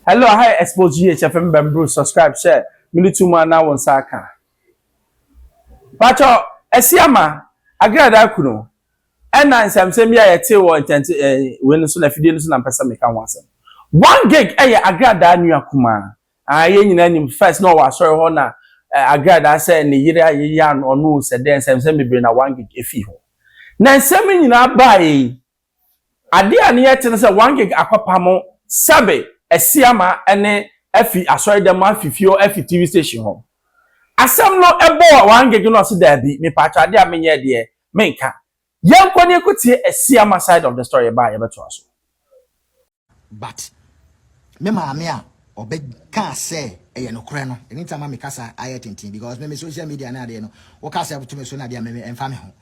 Hello aha yɛ expose GH FM bɛmbro subscribe hyɛ mene to mu ana wo nsa aka Pakyɛ Asiama Agradaa kunu ɛna nsɛmsɛm bi a yɛtee wɔ internet eh, wei no so na afidie no so na mpɛ sɛ meka ho asɛm One gig ɛyɛ Agradaa nua kumaa ah, yɛn nyinaa nim first na ɔwɔ asɔre hɔ na eh, Agradaa sɛ ne yere a yɛyɛ ano ɔno sɛ dɛn nsɛmsɛm bebree na One gig ɛfii hɔ na nsɛm nyinaa baeɛ yi Ade a ne ɛte ne sɛ Wangig akɔpa mo sɛbe asi ama ne afi asɔredɛm hɔ afi fie hɔ afi TV station hɔ. Asɛm no bɔɔ Wangig na ɔse daabi mepaatwɔ ade a menyɛɛ deɛ menka. Yɛnkɔ na yɛkɔtie asi ama side of the story ba a yɛbɛtoa so. But me maame a ɔbɛ kaa sɛ ɛyɛ nokorɛ no ɛno nti ama me kasa ayɛ tenten because me me social media no adeɛ no wo kasa ɛto me so no adeɛ me ɛmfa me ho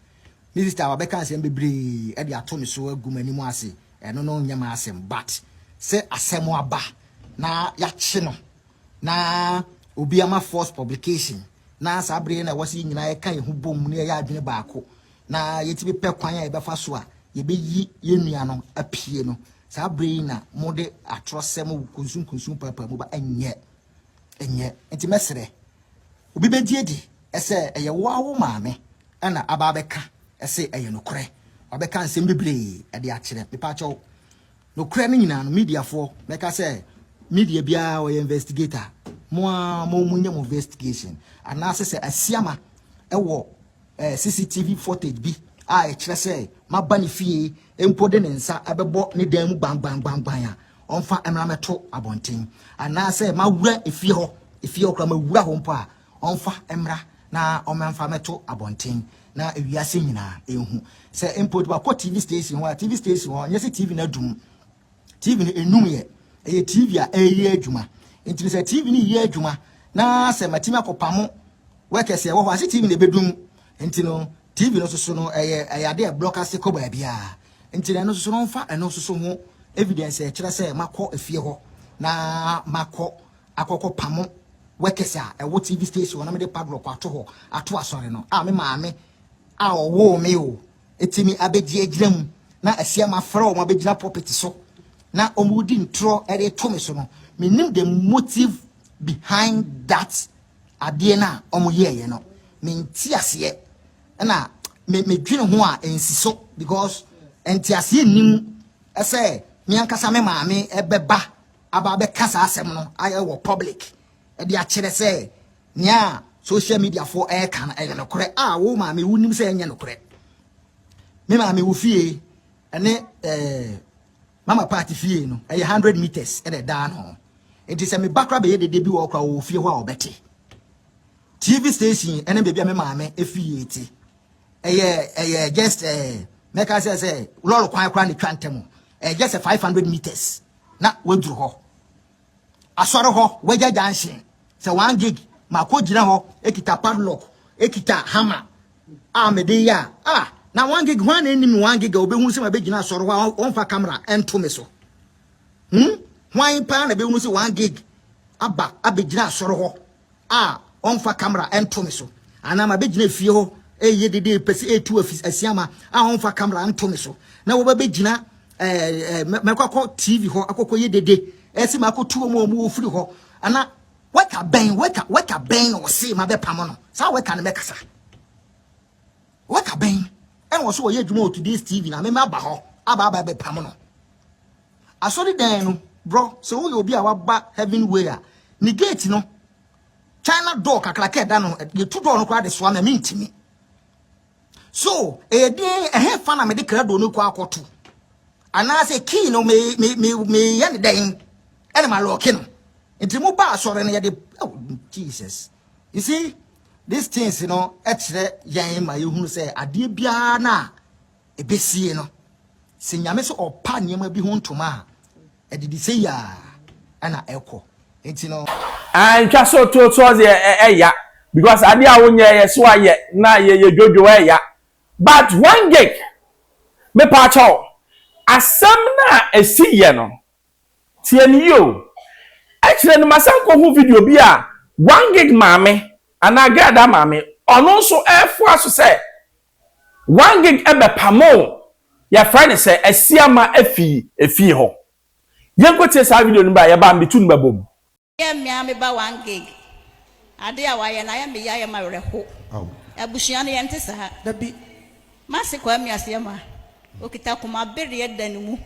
me sister wabɛ kaa sɛ bebree ɛde ato me so agu m'anim ase ɛno no nyɛ m'asɛm but sɛ asɛm aba na yakye no Na obi ama force publication na saa bere yi na ɛwɔ sɛ yɛn nyinaa yɛka yɛn ho bom na yɛyɛ adwene baako na yɛtumi pɛ kwan a yɛbɛfa so a yɛbɛyi yɛn nua no apue no saa bere yi na mode atorɔsɛm kunsunkunsun paapaa mu ba ɛnyɛ ɛnyɛ nti mɛsrɛ obi bɛgye adi ɛsɛ ɛyɛ wo awo maame ɛna aba abɛka ɛsɛ ɛyɛ nokorɛ wabɛka nsɛm bebree ɛde akyerɛ mepaakyɛw Nokorɛ no nyinaa no media foɔ mɛka sɛ media biara ɔyɛ investigator mo ara mo mo nyɛ mo investigation anaasɛ sɛ asiama ɛwɔ eh, CCTV footage bi a ɛkyerɛ sɛ maba ne fie mpo de ne nsa ɛbɛbɔ ne dan mu gbangbangban a ɔmfa mmra mɛto abɔnten anaasɛ mawura efie hɔ efie hɔ koraa mawura hɔ mpo a Ɔmfa mmra na ɔmɛmfa mmɛto abɔnten na wiase nyinaa ɛnhu. Sɛ mpo de wakɔ TV station hɔ a, TV station hɔ, nyɛ sɛ TV no adum. TV no ɛnum yɛ. Ɛyɛ TV a ɛreyɛ adwuma. Nti no sɛ TV no reyɛ adwuma na sɛ matumi akɔpamo workers a ɛwɔ hɔ a, se TV no ɛbɛdum. Nti no TV no soso no ɛyɛ ɛyɛ ade a ɛblɔk ase kɔ baabiara. Nti no ɛno soso no ɔmfa ɛno soso ho evidence a ɛkyerɛ sɛ makɔ efie hɔ na makɔ akɔkɔ pamo workers a ɛwɔ TV station hɔ na mede padlock ato hɔ ato asɔre no a me maame a ɔwoo me o ɛtumi abɛgye agyina mu na asia mafrɛ wɔn abɛgyina pulpit so na wɔn redi ntorɔ ɛde to me so no menim the motive behind that adeɛ no a wɔn yɛɛyɛ no menti aseɛ ɛna medwene ho a ɛnsi so because ɛnti aseɛ nni mu ɛsɛ me ankasa me maame ɛbɛba aba abɛka saa asɛm no ayɛ wɔ public de akyerɛ sɛ nea social media fo ɛreka no ɛyɛ nokorɛ a wo maame wo nim sɛ ɛnyɛ nokorɛ me maame wo fie ɛne ɛɛ mama party fie no ɛyɛ hundred meters ɛna ɛdaa no nti sɛ meba kora bɛyɛ dede bi wɔ kora wɔ fie hɔ a ɔbɛte tv station ɛne baabi a me maame efie te ɛyɛ ɛyɛ just ɛɛ mɛka sɛ sɛ lɔri kwan kora ne twa ntɛm ɛyɛ just five hundred meters na waduru hɔ. Asɔre hɔ, wagya gyanhyen sɛ one gig makɔgyina hɔ kita padlock, kita hammer a mede yɛ a, ah, na one gig, hwan na ɛnim one gig a ɔbɛhunu sɛ mabɛgyina asɔre hɔ a ɔmfa kamera ɛnto me so? Hmm? Hwan paa na ɛbɛhunu sɛ one gig aba abɛgyina asɔre hɔ a ɔmfa camera nto me so anaa mabɛgyina efie hɔ ɛyɛ dede pɛ sɛ ɛtu asiama a ɔmfa camera nto me so na wɔbɛbɛgyina mɛkɔkɔ tv hɔ akɔkɔ yɛ dede ɛsɛ makɔtu wɔn a wɔwɔ firi hɔ ana wɛka bɛn wɛka wɛka bɛn na ɔse mabɛpamo no saa wɛka no mɛkasa wɛka bɛn ɛna ɔso wɔyɛ adwuma wɔ today's tv na mema aba hɔ aba aba bɛpamo no Asɔredan no, bro, sɛ woyɛ obi a waba Heaven Way a, ne gate no, China door kakraka ɛda no, yɛtu door no koraa de soa me a mentumi. So, ɛyɛ den, ɛhefa na mede krado no kɔ akɔto? Anaasɛ key no meyɛ ne dɛn ɛne malɔke no? Nti mo ba asɔre no yɛde, oh, Jesus. You see, these things, you know, ɛkyerɛ yɛn ma yɛhunu sɛ adeɛ biara no a Ɛbɛsie no, sɛ Nyame sɛ ɔpa nneɛma bi ho ntoma a, ɛde de sei ara na ɛkɔ. Nti no. Aah ntwa so to soɔ deɛ ɛya because adeɛ a wonyɛ yɛ so ayɛ na yɛ yɛ dwodwo ɛya but one gig me paa kyɛw asɛm no a ɛsi yɛ no tie no yie o ɛkyerɛ no masan kɔ hu video bi a one gig maame anaa gɛɛ da maame ɔno nso ɛɛfoa so sɛ Wangig bɛpamoo yɛfrɛ no sɛ Asiama afi efie hɔ. Yɛnkɔ tie saa video no bere a yɛba mbetu no bɛbom. Yɛ mmea me ba Wangig ade a wayɛ no ayɛ me ya ayɛ me awerɛho abusua no yɛnte saa da bi m'ase kɔ amiaseɛ ma. Okita koma bereɛ da ne mu.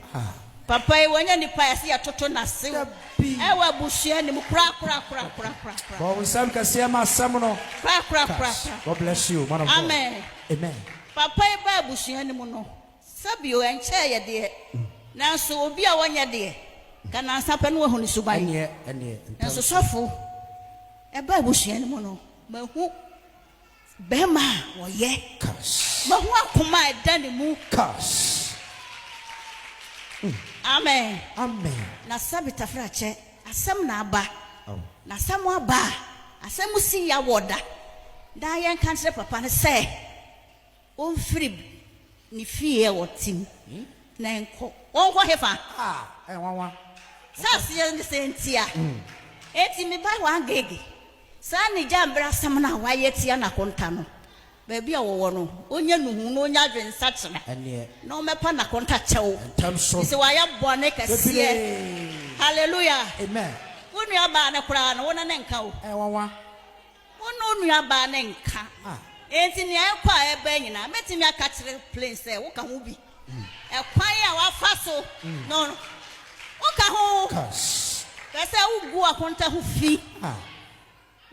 Papa yi wɔnyɛ nipa a yɛse yɛtoto no ase o. Ɛwɔ abusua no mu korakorakorakorakorakoraa. Bɔ wo nsam kɛseɛ ma asɛm no Korakorakorakoraa. God bless you man of God. Amen. Amen. Papa yi baa abusua no mu no, sɛbio ɛnkyɛɛ yɛ deɛ, nanso obi a wɔnyɛ deɛ, nka nansa pɛ na wahu ne suban. Ɛneɛ, ɛneɛ, ntɛm Nanso so. sɔfo, ɛbaa abusua no mu no, mahu. Bɛrima a ɔyɛ. Kas. Mahu akoma a ɛda ne mu. Kas. Amen. Amen. Na sɛbe tafrakyɛ, asɛm na aba. Aw. Na asɛm aba a, asɛm si yɛ awɔ da. Daa yɛnka nkyerɛ papa no sɛ ɔmfiri Ne fie a ɔte mu na ɛnkɔ. Wɔnkɔ hefa? Ah, nwanwa. Sɛ aseɛ ne sɛ ntia. Enti me ba w'agege. Saa ne gya mbrasɛm no a w'ayɛ tia n'akonta no. Baabi a ɔwɔ no, ɔnya nuhu na ɔnya adwensakyera. Ɛneɛ. Na ɔmɛpa n'akonta kyɛw. Ntɛm so. Efisɛ w'ayɛ bɔne kɛseɛ. Bebree. Hallelujah. Amen. Wo nuabaa no koraa no, wo ne no nka o. Nwanwa. Wo ne wo nuabaa no nka. Enti nea ɛkɔ a ɛba nyinaa, mɛtumi aka akyerɛ Plane sɛ woka ho bi. Ɛkwan a wafa so no, woka ho. Hwɛ sɛ wugu akonta ho fi.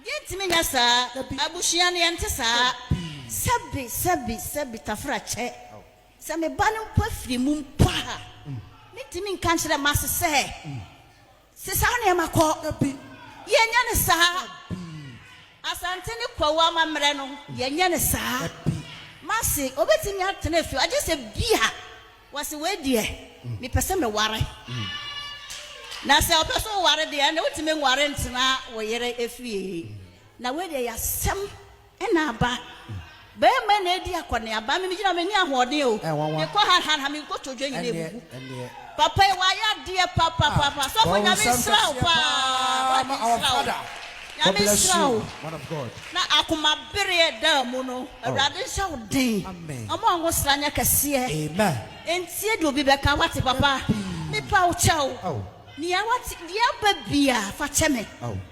Yentumi nyɛ saa. Abusua no, yɛnte saa. Sɛbe, sɛbe, sɛbe, Tafera kyɛ. Sɛ me ba no mpo afiri mu mpo a, mintumi nka nkyerɛ m'ase sɛ Se saa nneɛma kɔ. Dabi. Yɛnyɛ no saa. Dabi. Asante ne Kwawu amammerɛ no, yɛnyɛ no saa. Dabi. Mase, obetumi atena fie agye sɛ bi a wɔse wei deɛ, mepɛ sɛ meware. Na sɛ ɔpɛ sɛ ɔware deɛ, ɛnna wotumi nware ntena wo yere fie. Na wei deɛ yɛ asɛm. Ɛna aba. Bɛɛma na adi akɔneaba. Me megyina menni ahoɔden o. Ɛyɛ nwanwa. Mekɔ ha ha ha me nkotodwe nyina Ɛnneɛ abubu. ɛnneɛ. Papa yi wayɛ adeɛ papapapa. Ah, Sɔfo bɔ wo Nyame nsam nsra wo kɛseɛ paa. paa Why ma our nsra wo. father. God Nyame bless nsra you wo. man of God. Na akoma bereɛ ɛda mu no awurade nhyɛ wo den. Amen. Ɔmo a ɔnwo sra nyɛ kɛseɛ. Amen. Ɛntie deɛ obi bɛka wate papa. Dabi. Mepa wo kyɛw. Ao. Nea wate deɛ aba biaa fa kyɛ me. Ao.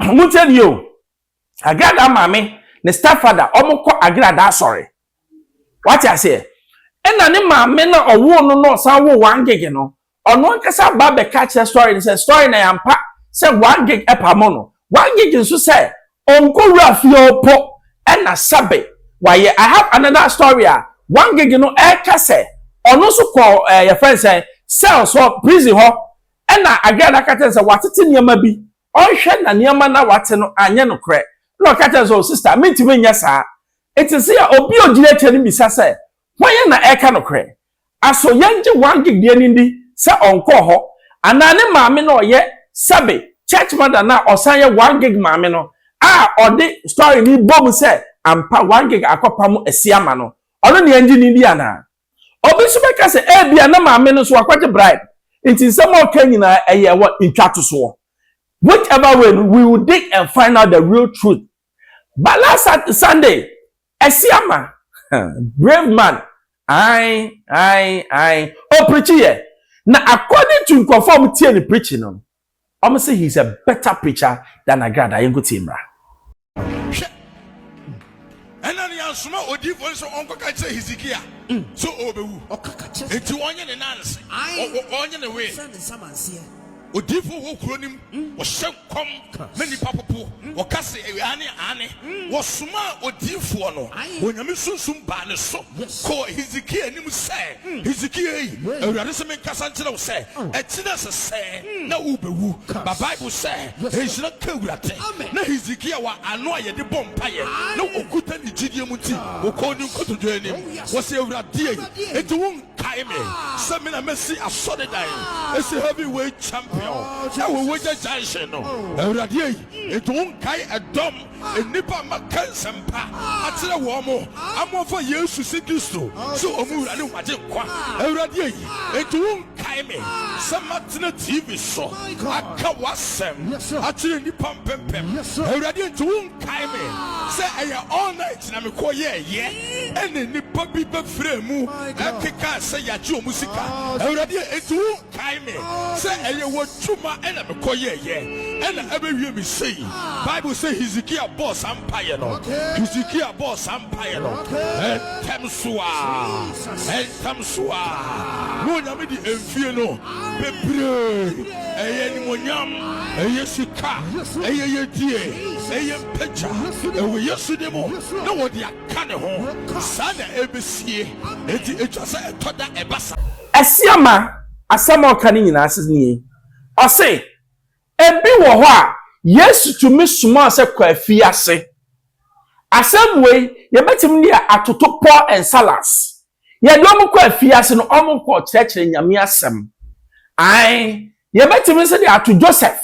Montie nie o, Agradaa maame ne stepfather wɔkɔ Agradaa asɔre. Wate aseɛ? Ɛna ne maame no a ɔwoo no na ɔsan woo Wangege no, ɔno ankasa ba bɛka akyerɛ Story no sɛ, Story na yɛampa sɛ Wangege pamo no. Wangege nso sɛ ɔnkɔwura fie hɔ mpo ɛna sɛbe wayɛ. I have another story a Wangege no ɛreka sɛ ɔno nso kɔɔ ɛɛ yɛfrɛ no sɛn, cells hɔ, prison hɔ ɛna Agradaa ka kyerɛ no sɛ watete nneɛma bi ɔnhwɛ na nneɛma no a wate no anyɛ nokorɛ, ɛnna ɔka kyerɛ no sɛ, O sista, mentumi nyɛ saa. Ɛte sɛ a obi a ɔgyina akyire no bisa sɛ, Hwan na ɛreka nokorɛ? Aso yɛngye Wang deɛ no nni sɛ ɔnkɔɔ hɔ, anaa ne maame no a ɔyɛ Sabi, church mother no a ɔsan yɛ Wang maame no, a ɔde story no bɔ mu sɛ ampa Wang akɔpamo asia ama no, ɔno na yɛngye no nni anaa? Obi nso bɛka sɛ ebia na maame no nso wakɔgye bribe nti nsɛm a ɔka nyinaa ɛyɛ wɔ ntwatosoɔ. Whichever way no, we will dig and find out the real truth. But last Sunday, Asiama, brave man, ae ae ae, ɔpirikyiiɛ. Na according to nkurɔfoɔ a wɔtie ne preaching no, Ɔmo se he's a better preacher than Agrada, yɛnko tie mmra. Hwɛ, ɛna ne yɛasoma odiyifoɔ no sɛ ɔnkɔka nkyerɛ Hesekia sɛ ɔɔbɛwu, enti ɔnyɛ ne nan ase, ɔnyɛ ne wee. Odiyifoɔ wɔ kuro no mu, ɔhyɛ nkɔm ma nnipa popo, ɔka se, Aane, aane. wɔsomaa odiyifoɔ no, Onyame Sunsum baa ne so kɔɔ Hesekia anim sɛ, Hesekia ei, Awurade se menkasa nkyerɛ wo sɛ, ɛkyena sesɛɛ na worebɛwu. Ba Bible sɛ, Nhyira nka Awurade. Na Hesekia wɔ ano a yɛde bɔ mpaeɛ, na ɔkuta ne gyidie mu nti, ɔkɔɔ ne nkotodwe anim, ɔse, Awurade ei, enti wonkae me sɛ me na masi asɔredan asi heavyweight champion ɛwɔ Wagya Junction no? Awurade ei, Enti wonkae ɛdɔm, nnipa a maka nsɛmpa akyerɛ wɔn mo, ama wɔafa Yesu sɛ Kristo sɛ wɔn Wura ne wɔn Agyenkwa, Awurade ayi. Enti wonkae me sɛ matena TV so aka w'asɛm akyerɛ nnipa mpempem, Awurade. Enti wonkae me sɛ ɛyɛ all night na mekɔyɛeɛ, ɛna nnipa bi bɛfrɛɛ mu kekaa sɛ yɛagye wɔn sika, Awurade. Enti wo. Kae me sɛ ɛyɛ w'adwuma na mekɔyɛeɛ na abɛwie me sei. Bible sɛ Hesekia bɔɔ saa mpaeɛ no. Hesekia bɔɔ saa mpaeɛ no. Ntɛm so ara, ntɛm so ara na Onyame de mfie no bebree, ɛyɛ animuonyam, ɛyɛ sika, ɛyɛ yɛdie, ɛyɛ mpagya, ɛwɔ Yesu din mu, na wɔde aka ne ho. Saa na ɛbɛsie. Enti ɛtwa sɛ ɛtɔ da ɛba saa. Asiamah asɛm a ɔka no nyinaa ase nie. Ɔse, Ebi wɔ hɔ a, Yesu tumi somaa sɛ kɔ afiase. Asɛm wei, yɛbɛtumi de yɛ atoto Paul and Salas. Yɛde wɔn kɔ afiase no, wɔkɔɔ kyerɛkyerɛ Nyame asɛm. Ae, yɛbɛtumi nso de ato Joseph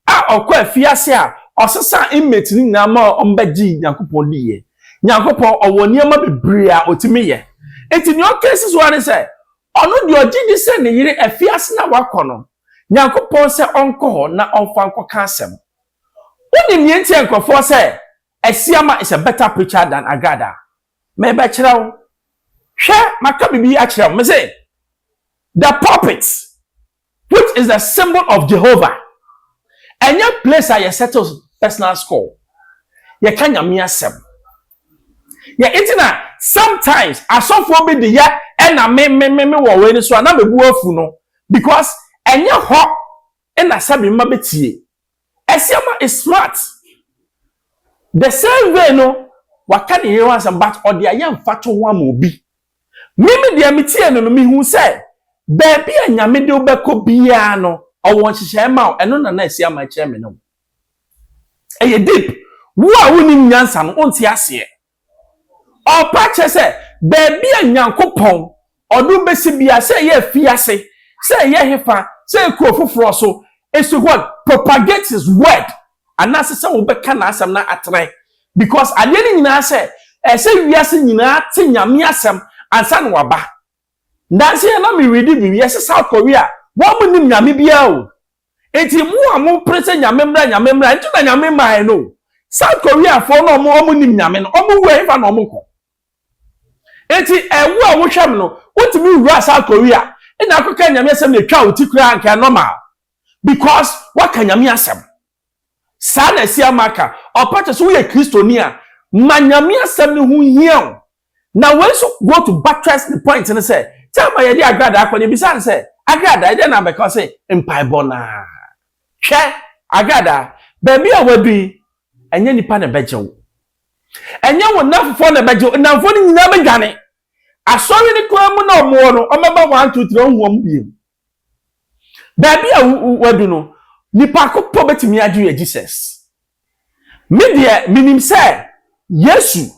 a ɔkɔɔ afiase a ɔsesaa inmates no nyinaa ma wɔbɛgyee Nyankopɔn diiɛ. Nyankopɔn ɔwɔ nneɛma bebree a ɔtumi yɛ. Enti deɛ ɔka si so ara ne sɛ, ɔno deɛ ɔgye di sɛ ne yere afiase no a wakɔ no, Nyankopɔn sɛ ɔnkɔ hɔ na ɔmfa nkɔka asɛm. Wonim deɛ nti a nkurɔfoɔ sɛ Asiamah is a better preacher than Agrad a? Merebɛkyerɛ wo. Hwɛ, maka biribi akyerɛ wo. Mese, the pulpit Which is the symbol of Jehovah Ɛnyɛ place a yɛ settle personal score Yɛ ka Nyame asɛm Yɛ nti na sometimes asɔfoɔ bi de yɛ ɛna me me me me wɔ wei no so a na me bo afu no because ɛnyɛ hɔ na sɛbe mma bɛtie Asiamah is smart the same way no waka ne yere ho asɛm but ɔde ayɛ mfatoho ama obi Me me deɛ me tie no no me hu sɛ baabi a nyame de wobɛkɔ biara no ɔwɔ nhyehyɛe ma wo ɛno na na ɛsi ama ɛkyerɛ me ne wo ɛyɛ deep wo a wonim nyansa no wonte aseɛ ɔpa kyɛ sɛ baabi a nyankopɔn ɔde wobɛsi biara sɛ ɛyɛ afiase sɛ ɛyɛ hefa sɛ ɛyɛ kuro foforɔ so is to what propagate his word anaase sɛ wobɛka n'asɛm na atrae because adeɛ no nyinaa sɛ ɛsɛ wiase nyinaa te Nyame asɛm ansa na waba. Nansa yi na me readi biribi yɛse South Korea wɔn mo nim Nyame biara o nti mo a mo pere sɛ Nyame mmra Nyame mmra nti na Nyame mmaeɛ no o. South Korea foɔ no ɔmo ɔmo nim Nyame no ɔmo wu ɛhefa na ɔmo kɔ? Nti ɛwo a wohwɛ me no wotumi wura South Korea na akɔka Nyame asɛm na ɛtwa wo ti koraa nka ɛnormal because woaka Nyame asɛm. Saa na asi ama aka. Ɔpa kyerɛ sɛ woyɛ Kristoni a, ma Nyame asɛm no ho nhia wo. Na wei nso go to buttress ne point no sɛ, time a yɛde agradaa kɔ no, yɛbisaa no sɛ, Agradaa, ɛdeɛn na abɛka? Ɔse, Mpaebɔ no ara. Hwɛ, Agradaa, baabi a woadu yi, ɛnyɛ nnipa na ɛbɛgye wo. Ɛnyɛ wo nnamfofoɔ na ɛbɛgye wo. Nnamfoɔ no nyinaa bɛdwane. Asɔre no koraa mu na wɔwɔ no, wɔbɛba one, two, three, wonhu wɔn bio. Baabi a wadu no, nnipa ko mpo betumi agye yɛ Jesus. Me deɛ, minim sɛ Yesu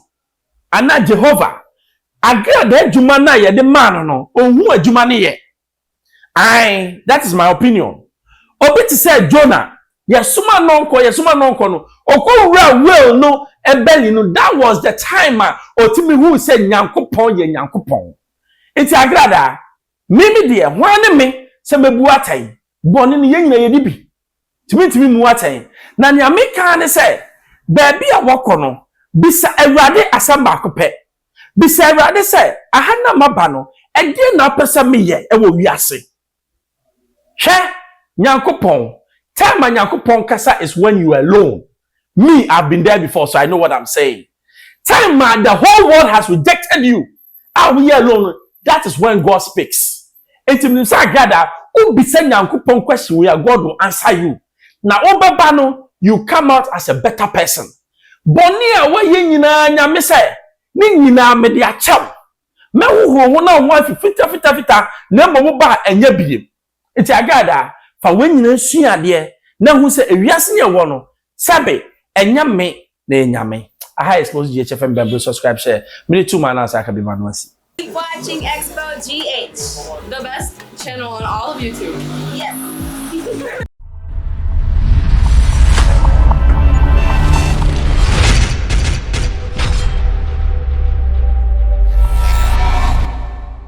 anaa Jehovah, agradaa adwuma no a yɛde maa no no, ohu adwuma no yɛ. Ae, that is my opinion. Obi te sɛ Jonah, yɛsoma no nkɔ, yɛsoma no nkɔ no, okowuraa whale no belly no, that was the time a otumi huu sɛ Nyankopɔn yɛ Nyankopɔn. Enti agradaa, Me, me deɛ, hwan ne me sɛ mɛbu atɛn? Bɔne no, yɛn nyinaa yɛdi bi. Nti mentumi mmu atɛn. Na nea meka ara ne sɛ, baabi a wɔkɔ no, bisa Awurade asɛm baako pɛ. Bisa Awurade sɛ, Aha na maba no, ɛdeɛn na wopɛ sɛ meyɛ wɔ wiase? Hwɛ, Nyankopɔn, time a Nyankopɔn kasa is when you are alone. Me, I've been there before, so I know what I'm saying. Time a the whole world has rejected you, a woyɛ alone no, that is when God speaks. Enti menim sɛ Agad a wobisa Nyankopɔn question wei a, God will answer you. Na wobɛba no, you come out as a better person. Bɔne a woayɛ nyinaa, Nyame sɛ, ne nyinaa mede akyɛ wo. Mɛhohoro wo na wo ho afi fitafitafita, na mmom wo ba a ɛnyɛ biem. Enti Agada, fa wei nyinaa sua adeɛ na hu sɛ ewiase yɛ wɔ no, sɛbe, ɛnyɛ me na ɛyɛ Nyame. Aha yɛ Small GH FM Bɛmbre subscribe share me de to ma anaase aka bi ma no asi. Keep watching Expo GH, the best channel on all of YouTube. Yes.